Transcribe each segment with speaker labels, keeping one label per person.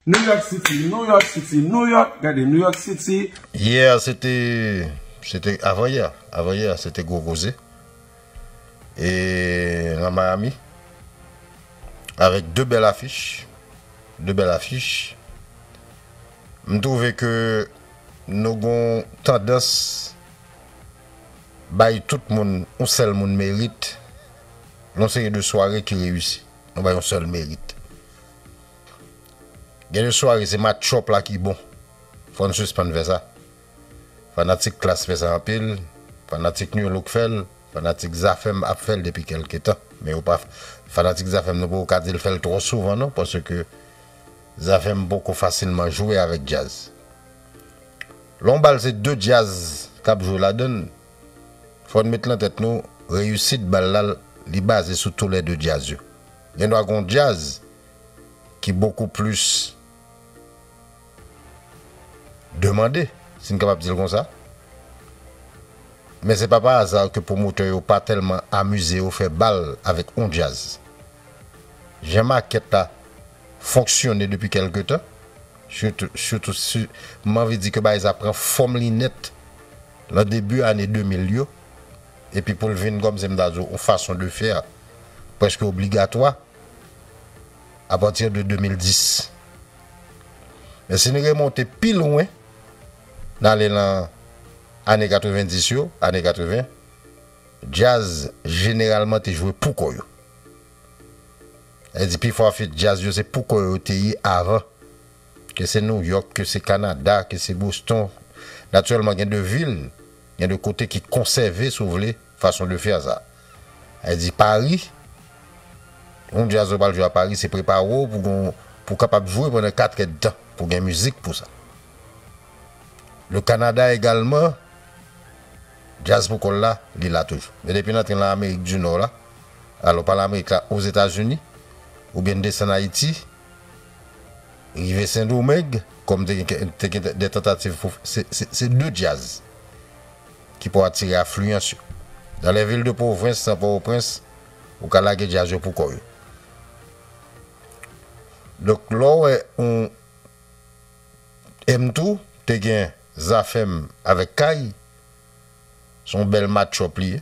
Speaker 1: New York City, New York City, New York, gade New York City. Yè a se te,
Speaker 2: se te avan yè a, avan yè a se te gwo koze e nan Miami avèk 2 bèl afich, 2 bèl afich. M twouve ke nou gon tandans bay tout moun yon sèl moun merit, yon seri de sware ki reyisi, nou bay yon sèl merit. Gen de sware se matchup la ki bon fòn sispann fè sa fanatik klass fè sa anpil fanatik nu look fèl fanatik zafèm ap fèl depi kèlke tan men yo pa fanatik zafèm nou poko ka dil fèl twò souvan non paske zafèm poko fasilman jwe avèk djaz lè yon bal se de djaz kap jwe ladann fòn met lan tèt nou reyisit bal la li baze sou tou lè de djaz yo gen dwa gon djaz ki bokou plis demande, si n kapab di l konsa. Men se pa pa aza ke pwomotè yo pa tèlman amize yo fè bal avèk on djaz. Jan makèt la fonksyone depi kèlke tan, sitou, sitou, si, m anvi di ke bagay sa pran fòm li nèt lan debi ane 2000 yo, epi pou l vin, kòmsi m ta di w, on fason de faire, prèske obligatwa, a pati de 2010. Men si n remonte pi lwen, n ale lan ane 90 yo, ane 80, djaz jeneralman te jwe pou kò yo. Sa vle di pi fò afit djaz yo se pou kò yo te ye avan. Ke se Nouyòk, ke se Kanada, ke se Boston. Natirèlman gen de vil, gen de kote ki konsève si w vle, Façon de faire sa. Li di Paris, yon djaz ou pral jwe a Paris se prepare w pou gen pou kapab jwe pandan 4 èdtan pou gen mizik pou sa. Le Canada egalman djaz pou kò l la li la toujou. Men depi n antre lan Amerik di Nò la, alò pa lan Amerik la Ozetazini oubyen n desann Ayiti rive Sendomeng kòm te gen te gen dè tantativ pou se se 2 djaz. ki pou atire afliyans yo. Nan lè vil de pwovens nan Pòwoprens, ou ka lage djaz yo poukò yo. Donk lè w wè yon M tou te gen Zafèm avèk Kay, se yon bèl match-up li ye.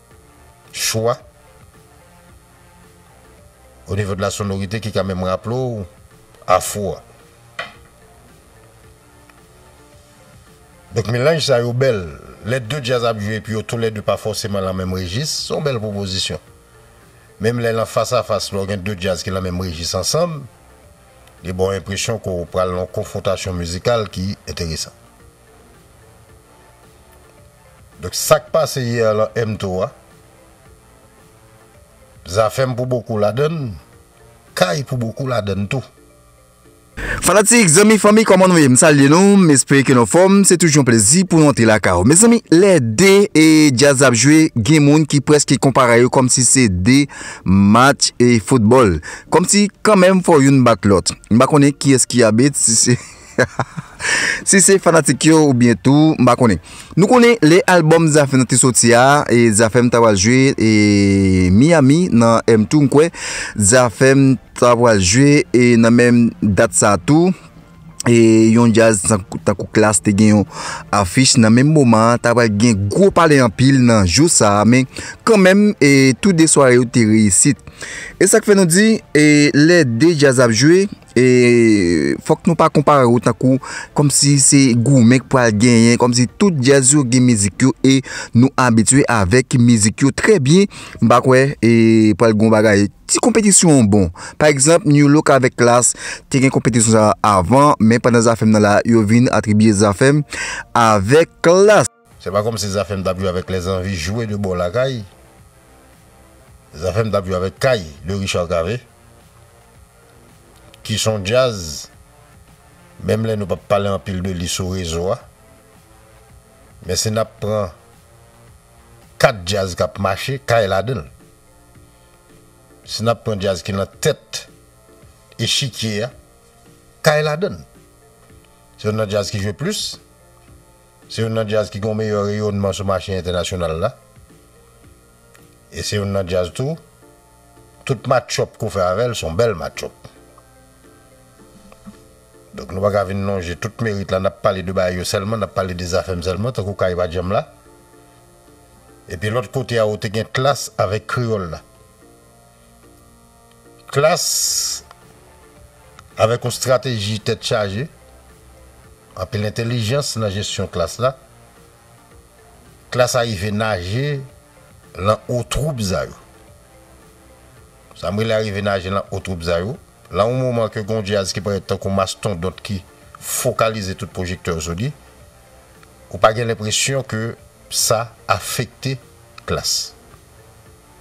Speaker 2: chwa o nivo de la sonorite ki ka menm raple w afro a. Donk melanj sa yo bèl. Lè 2 djaz ap jwe epi yo tou lè 2 pa fòseman lan menm rejis, se yon bèl pwopozisyon. Menm lè lan fas a fas, lè w gen 2 djaz ki lan menm rejis ansanm, li ba w enpresyon ke w pral lan yon konfwontasyon mizikal ki enteresan. Donk sak pase hier lan MTOW a Zafem pou bokou ladann, Kay pou bokou ladann tou.
Speaker 3: Fanatik, zanmi, fanmi kòman nou ye m salye nou m espere ke nou anfòm se toujou yon plezi pou nou antre lakay ou mezanmi lè 2 e djaz la ap jwe gen moun ki prèske konpare yo kòmsi se 2 match e foutbòl kòmsi kanmenm fò youn bat lòt m pa konnen kiyès ki abit si se. Si se fanatik yo ou byen tou m pa konnen. Nou konnen lè album Zafèm nan te soti a, Zafèm ta pral jwe Miami nan M-Tour m kwè. Zafèm ta pral jwe nan menm dat sa tou. Yon djaz tankou Klass te gen yon afich nan menm moman an. Ta pral gen gwo pale anpil nan jou sa a. Men kan menm tou 2 sware yo te reyisit. E sa k fè nou di lè 2 djaz ap jwe, E fòk nou pa konpare yo tankou kòm si se goumen k pral genyen, kòm si tout djaz yo gen mizik yo e nou abitye avèk mizik yo trè byen, m pa kwè e pral gen yon bagay. Ti konpetisyon an bon. Pa egzanp, New Look avèk Klass te gen konpetisyon sa a avan, men pandan Zafèm nan la, yo vin atribye Zafèm avèk Klass. Se pa kòmsi Zafèm
Speaker 2: t ap jwe avèk lèzanvi jwe de bò lakay. Zafèm t ap jwe avèk kay de Richard Cavé ki s on djaz menm lè nou p ap pale anpil de li sou rezo a men si n ap pran 4 djaz k ap mache kay ladan l. Si n ap pran djaz ki nan tèt echikye a kay ladan l. Se youn nan djaz ki jwe plis. Se youn nan djaz ki gen yon meyè reyonnman sou mache entènasyonal la. E se youn nan djaz tou, tout match-up ke w fè avè l, se yon bèl match-up. Donk nou pa ka vin lonje tout merit la, n ap pale de bagay yo sèlman, n ap pale de Zafèm sèlman, tankou Kay pa djanm la. Epi lòt kote a ou te gen Klass avèk Kreyòl la. Klas avèk yon strateji tèt chaje, anpil entelijans nan jesyon klas la, klas arive naje lan o twoub za yo. Sa m rele arive naje lan o twoub za yo, lan yon moman ke gen yon djaz ki parèt tankou mastondont ki fokalize tout pwojektè yo sou li, ou pa gen lenpresyon ke sa afekte klas.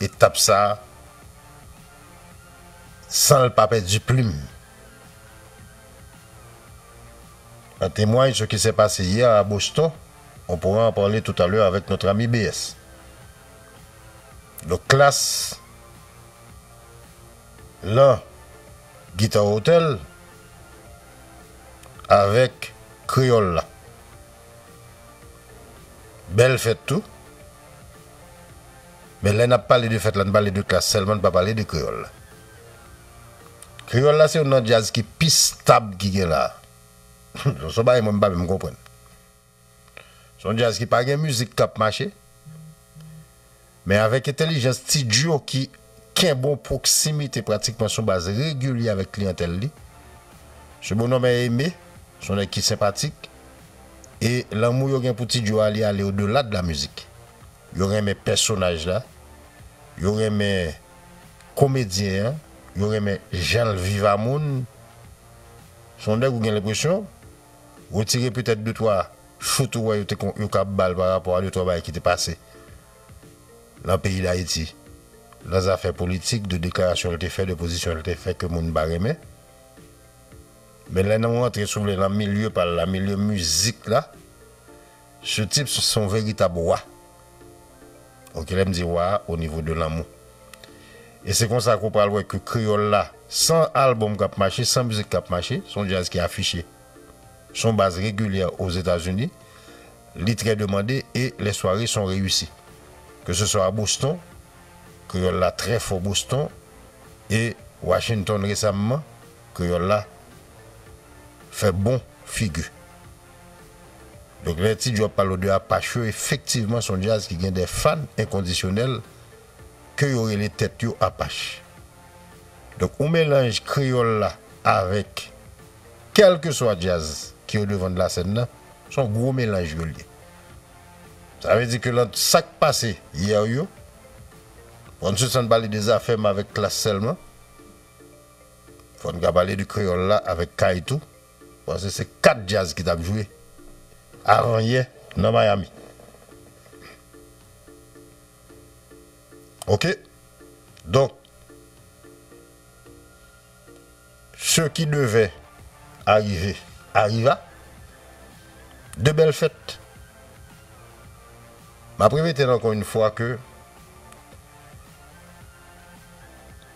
Speaker 2: Etap sa a san l pa pèdi plim. An temway ce ki sè pase yè a Boston, on pourra en parler tout à l'heure avec notre ami BS. Donk klas lan Guitar Hotel avèk Kreyòl la. Bèl fèt tou. Men lè n ap pale de fèt la, n pale de klas sèlman, n pa pale de kreyòl la. Kreyòl la se youn nan djaz ki pi stab ki gen la a. Son yon bagay mwen m pa menm konprann. Se yon djaz ki pa gen mizik k ap mache. Men avèk entèlijans Ti Djo ki kenbe yon pwoksimite pratikman sou baz regilye avèk kliyantèl li. Se bonòm Aimé, se yon nèg ki senpatik. E lanmou yo gen pou Ti Djo a li ale odela de lamizik. Yo renmen pèsonaj la, yo renmen komedyen an, yo renmen janl viv a moun. Son nèg ou gen lenpresyon, retire petèt de twa chout ou wè yo te yo kab bal pa rapò a de twa bagay ki te pase nan peyi dayiti nan zafè politik de deklarasyon l te fè de pozisyon l te fè ke moun pa renmen. Men lè nou rantre si w vle nan milye pa l la, milye mizik la. Sir Tips se yon veritab wa. Ok lèm di wa o nivo de lanmou. E se konsa ke w pral wè ke kreyòl la san album kap mache, san mizik kap mache, se yon djaz ki afiche sou yon baz regilyè Ozetazini, li trè demande e lè sware son reyisi. Ke se swa a Boston, kreyòl la trè fò Boston e Washington resamman kreyòl la fè bon figi. Donk lè Ti Djo ap palo de Apache yo efektivman son djaz ki gen dè fan enkondisyonèl ke yo rele tèt yo Apache. Donk ou melanj kreyòl la avèk kèlkeswa djaz ki o devan de la sèn nan, son gwo melanj yo lye. Sa vle di ke lan sak pase yè yo, fò n sispann pale de zafè m avèk Klass sèlman, fò n ka pale de kreyòl la avèk Kay tou. Panse se 4 djaz ki tap jwe avan yè nan Miami ok donk se ki devè arive ariva de bèl fèt map repete l ankò yn fwa ke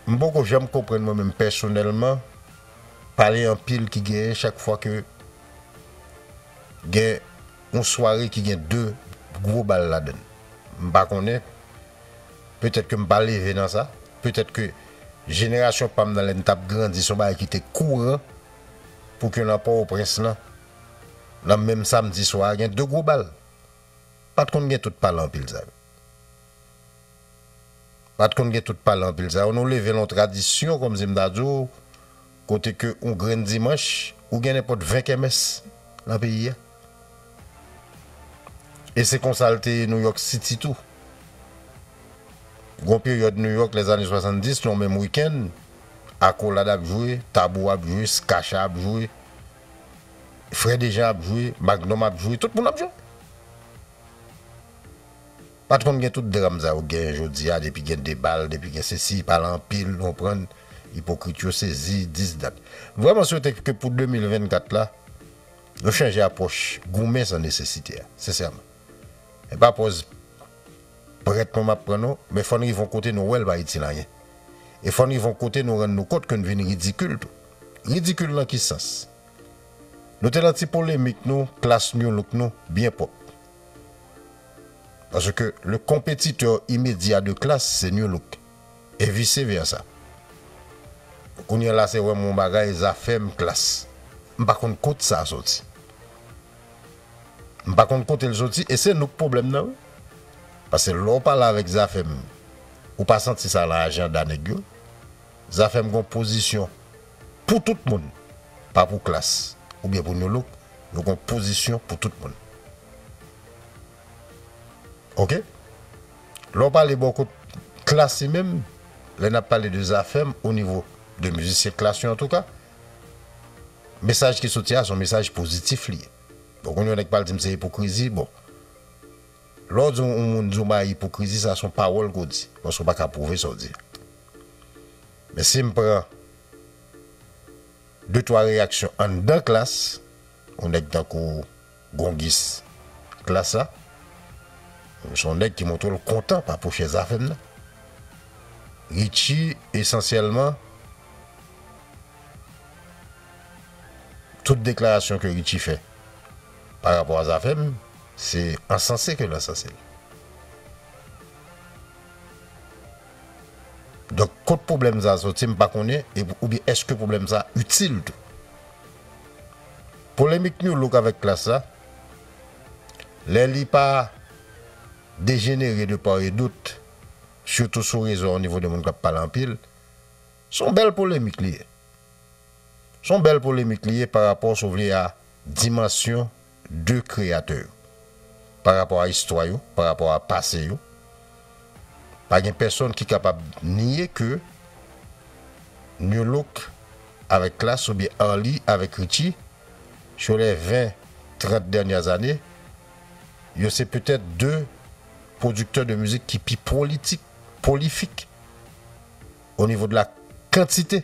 Speaker 2: m poko janm konprann mwen menm pèsonèlman. Pale anpil ki genyen chak fwa ke gen yon sware ki gen 2 gwo bal ladann. M pa konnen, petèt ke m pa leve nan sa, petèt ke jenerasyon pa m nan lè n t ap grandi se yon bagay ki te kouran pou ke nan Pòwoprens lan, nan menm samdi swa a gen 2 gwo bal. Pa t konn gen tout pale anpil sa yo. Pat konn gen tout pale anpil sa yo nou leve lan yon tradisyon kòm si m ta di w kote ke yon grenn dimanch ou gen nenpòt 20 kèmès lan peyi a e se konsa l te ye Nouyòk Siti tou gon peryòd Nouyòk lè zane 70 yon menm wikenn akolad ap jwe tabou ap jwe skacha ap jwe frè dejan ap jwe magnòm ap jwe tout moun ap jwe. Pat konn gen tout dram sa yo gen jodia depi gen debal depi gen sesi pale anpil nou konprann ipokrit yo sezi 10 dat m vreman swete ke pou 2024 la yo chanje apwoch goumen san nesesite a sensèman epa pòz prèt mwen map pran non men fòn rive yon kote nou wèl pa itil anyen e fòn rive yon kote nou rann nou kont ke nou vin ridikil tou ridikil nan ki sans nou te nan ti polemik nou klas newlook nou byen pwòp Parce que le competiteur immédiat de Klass se Nu-Look et vice versa. Kounye la se wèm yon bagay Zafèm Klass. M pa konn kot sa soti. M pa konn kotel soti e se nou k pwoblèm nan wi. Pase lè w pale avèk Zafèm ou pa santi sa lan ajanda nèg yo. Zafèm gon pozisyon Pou tout moun, pa pou klas oubyen pou nolo, nou gon pozisyon pou tout moun. Ok. Lè w pale bò kot klas li menm, lè n ap pale de Zafèm o nivo de mizisyen klas yo antouka, mesaj ki soti a se yon mesaj pozitif li ye. Bon konn yon nèg pral di m se ipokrizi, bon lè w di yon moun di yon bagay ipokrizi sa se yon pawòl ke w di paske w pa ka pwouve sa w di a. Men si m pran de twa reyaksyon anndan klas, yon nèg tankou Gongis klas la, se yon nèg ki montre l kontan pa pou chèz avè m nan. Ritchie esansyèlman, tout deklarasyon ke Ritchie fè pa rapò a zafè m, se ansanse ke l ansanse l. Donk kot pwoblèm sa soti m pa konnen oubyen èske pwoblèm sa itil tou. Polemik Nu Look avèk Klass la, lè li pa dejenere de part et d'autre, sitou sou rezo a onivo de moun k ap pale anpil, s on bèl polemik li ye. S on bèl polemik li ye parapò si w vle a dimansyon. de kreyatè yo, pa rapò a istwa yo, pa rapò a pase yo. Pa gen pèsonn ki kapab nye ke Nu Look avèk Klass oubyen Arly avèk Richie, sur les 20, 30 dernières années, yo se petèt de pwodiktè de mizik ki pi pwolitik, pwolifik, o nivo de la kantite.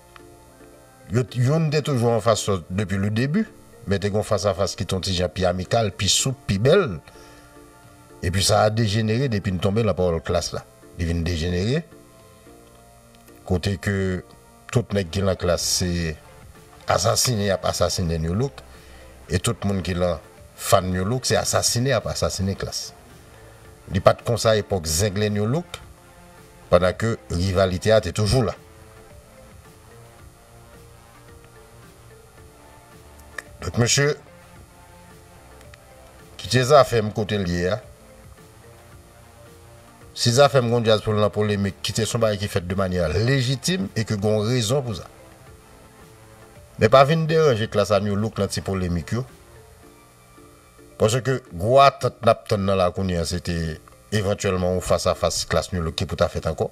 Speaker 2: Yo t youn te toujou an fas lòt depi le debi, men te gon fas a fas ki t on ti jan pi amikal, pi soup, pi bèl. Epi sa a dejenere depi n tonbe lan pawòl klas la. Li vin dejenere kote ke tout nèg ki lan klas se asasine y ap asasine New Look e tout moun ki lan fan New Look se asasine y ap asasine klas. Li pa t konsa epòk zenglen New Look. pandan ke rivalite a te toujou la. Donk mesye, kite zafè m kote l ye a, si zafè m gen yon djaz pou l nan polemik, kite s yon bagay ki fèt de manyè lejitim e ke gen yon rezon pou sa. Men pa vin deranje klas a New Look nan ti polemik yo. Paske gwo atant n ap tann nan la kounye a se te evantyèlman yon fas a fas klas New Look ki pou ta fèt ankò.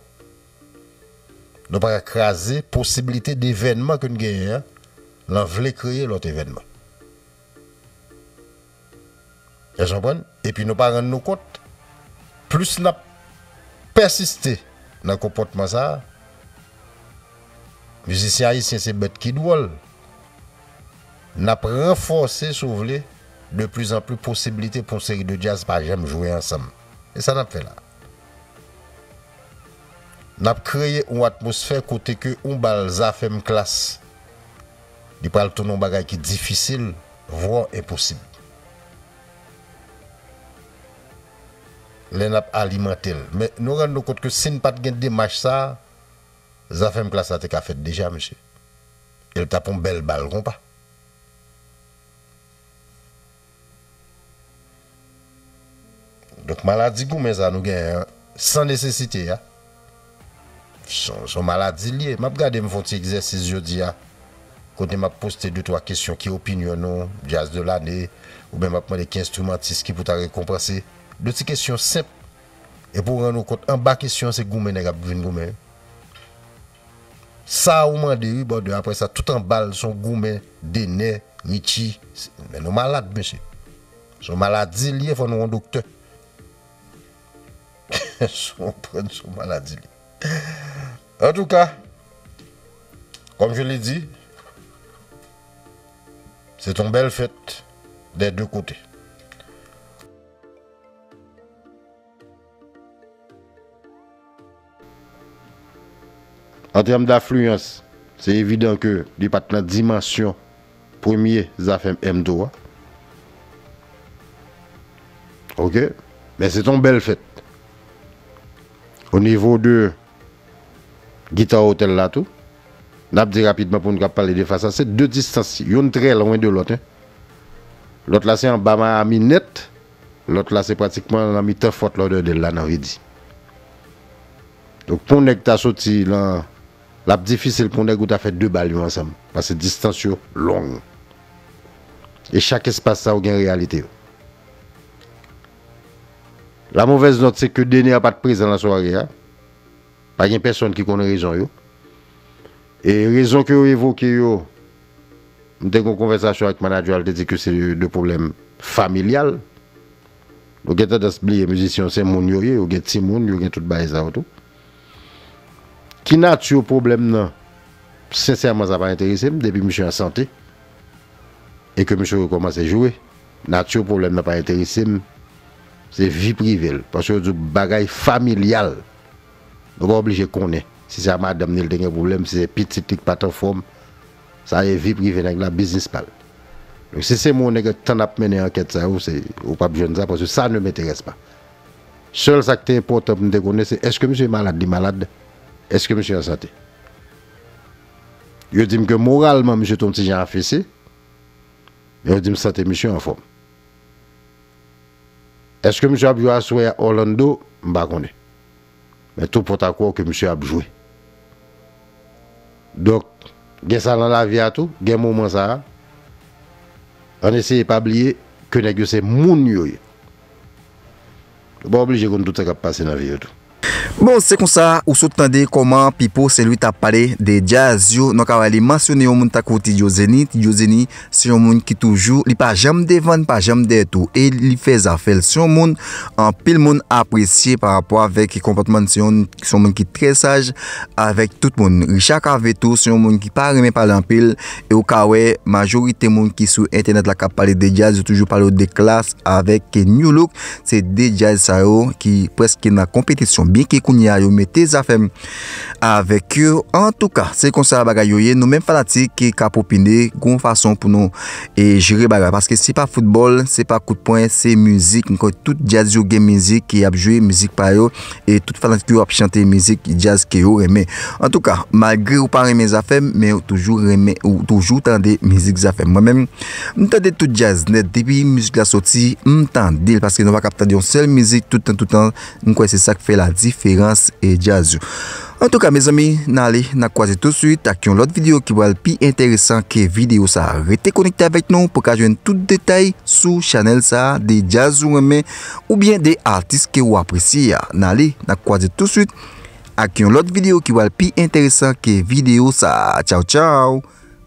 Speaker 2: Nou pa ka kraze posiblite de evènman ke n genyen an lan vle kreye lòt evènman. Èske nou konprann? Epi nou pa rann nou kont plis n ap pèsiste nan konpòtman sa a, mizisyen ayisyen se bèt ki dwòl. N ap ranfòse, si w vle, de pli zan pli posibilite pou yon seri de djaz pa janm jwe ansanm. E sa n ap fè la? N ap kreye yon atmosfè kote ke yon bal Zafèm Klass, li pral tounen yon bagay ki difisil, vwò enposib. Lè n ap alimante l. Men, nou rann nou kont ke si n pa t gen demach sa a, Zafèm Klass la te ka fèt deja, mesye. El tap on bel bal konpa. Donk maladi goumen sa nou genyen an san nesesite a son maladi li ye. Map gade m fon ti egzèsis jodi a kote map poste de twa kesyon ki opinyon nou djaz de lane oubyen map mande ki enstrimantis ki pou ta rekonpanse. De ti kesyon senp epi w rann ou kont anba kesyon se goumen nèg ap vin goumen. Sa ou mande wi bòdè aprè sa tout anbal son goumen Dener Richie men nou malad mesye son maladi liye fò nou on doktè konprann son maladi liye antouka kòm je le di se ton bèl fèt dè de kote. An tèm dafliyans, se evidan ke li pa t nan dimansyon premye zafè Mto a. Ok. Men se te yon bèl fèt. O nivo de Guitar Hotel la tou, n ap di rapidman pou moun k ap pale de fas a, se de distans, youn trè lwen de lòt. Lòt la se anba Miami nèt. Lòt la se pratikman lan mitan Fort Lauderdale la nan Vidi. Donk pou yon nèg ta soti lan, l ap difisil pou yon nèg ou ta fè 2 bal yo ansanm, pase distans yo long. E chak espas sa yo gen reyalite yo. La movèz nòt se ke Dener pa t prezan lan sware a. Pa gen pèsonn ki konn rezon yo. E rezon ke yo evoke yo. M te gen yon konvèsasyon ak manager an li te di ke se de pwoblèm familyal. Nou gen tandans bliye mizisyen yo se moun yo ye, yo gen timoun, yo gen tout bagay sa yo tou. Ki nature pwoblèm nan? Sensèman sa pa enterese m depi misye an sante e ke misye rekòmanse jwe. Nature pwoblèm nan pa enterese m. Se vi prive l. Paske yo di w bagay familyal. Nou pa oblije konnen si se a madanm ni li te gen pwoblèm, si se pitit li ki pa t anfòm. Sa se vi prive nèg la, biznis pa l. Donk si se mwen nèg ak tan n ap mennen ankèt sa yo, se ou pa p jwenn sa paske sa ne m'intéresse pas. Sèl sa k te enpòtan pou m te konnen se èske misye malad, li malad, èske misye an sante. Yo di m ke moralman misye te yon ti jan afese, men yo di m sante misye anfòm. Eske misye ap jwe aswè a Orlando m pa konnen. Men tou pòt a kwè ke misye ap jwe. Donk gen sa nan lavi a tou, gen moman sa a. Ann eseye pa bliye ke nèg yo se moun yo ye. Yo pa oblije konn tout sa k ap pase nan vi yo tou. Bon se
Speaker 3: konsa ou sot tande kòman Pipo Senlwi t ap pale de djaz yo nan kaway li mansyone yon moun tankou Ti Djo Zeni, Ti Djo Zeni se yon moun ki toujou li pa janm devan li pa janm dèyè tou e li fè zafè l se yon moun anpil moun apresye pa rapò avèk konpòtman l se yon moun ki trè saj avèk tout moun Richard Cavé tou se yon moun ki pa renmen pale anpil e ou ka wè majorite moun ki sou entènèt la k ap pale de djaz yo toujou pale w de Klass avèk Nu-Look Se 2 jazz sa yo ki preske nan konpetisyon byenke kounye a yo mete zafèm avèk yo antouka se konsa bagay yo ye nou menm fanatik ki kap opine gon fason pou nou e jere bagay paske se pa foutbòl se pa kout pwen se mizik mwen kwè tout jazz yo gen mizik ki ap jwe mizik pa yo e tout fanatik yo ap chante mizik jazz ke yo renmen antouka malgre ou pa renmen zafèm men ou toujou renmen ou toujou tande mizik zafèm mwen menm. M tande tout djaz nèt depi mizik la soti m tande l paske nou pa k ap tande yon sèl mizik tout tan tout tan m kwè se sa k fè ladiferans e djaz yo antouka mezanmi n ale n ap kwaze tousuit ak yon lòt videyo ki pral pi enteresan ke videyo sa rete konekte avèk nou pou w ka jwenn tout detay sou chanèl sa de djaz ou renmen oubyen de atis ke ou apresye a n ale n ap kwaze tousuit ak yon lòt videyo ki pral pi enteresan ke videyo sa tchaw tchaw.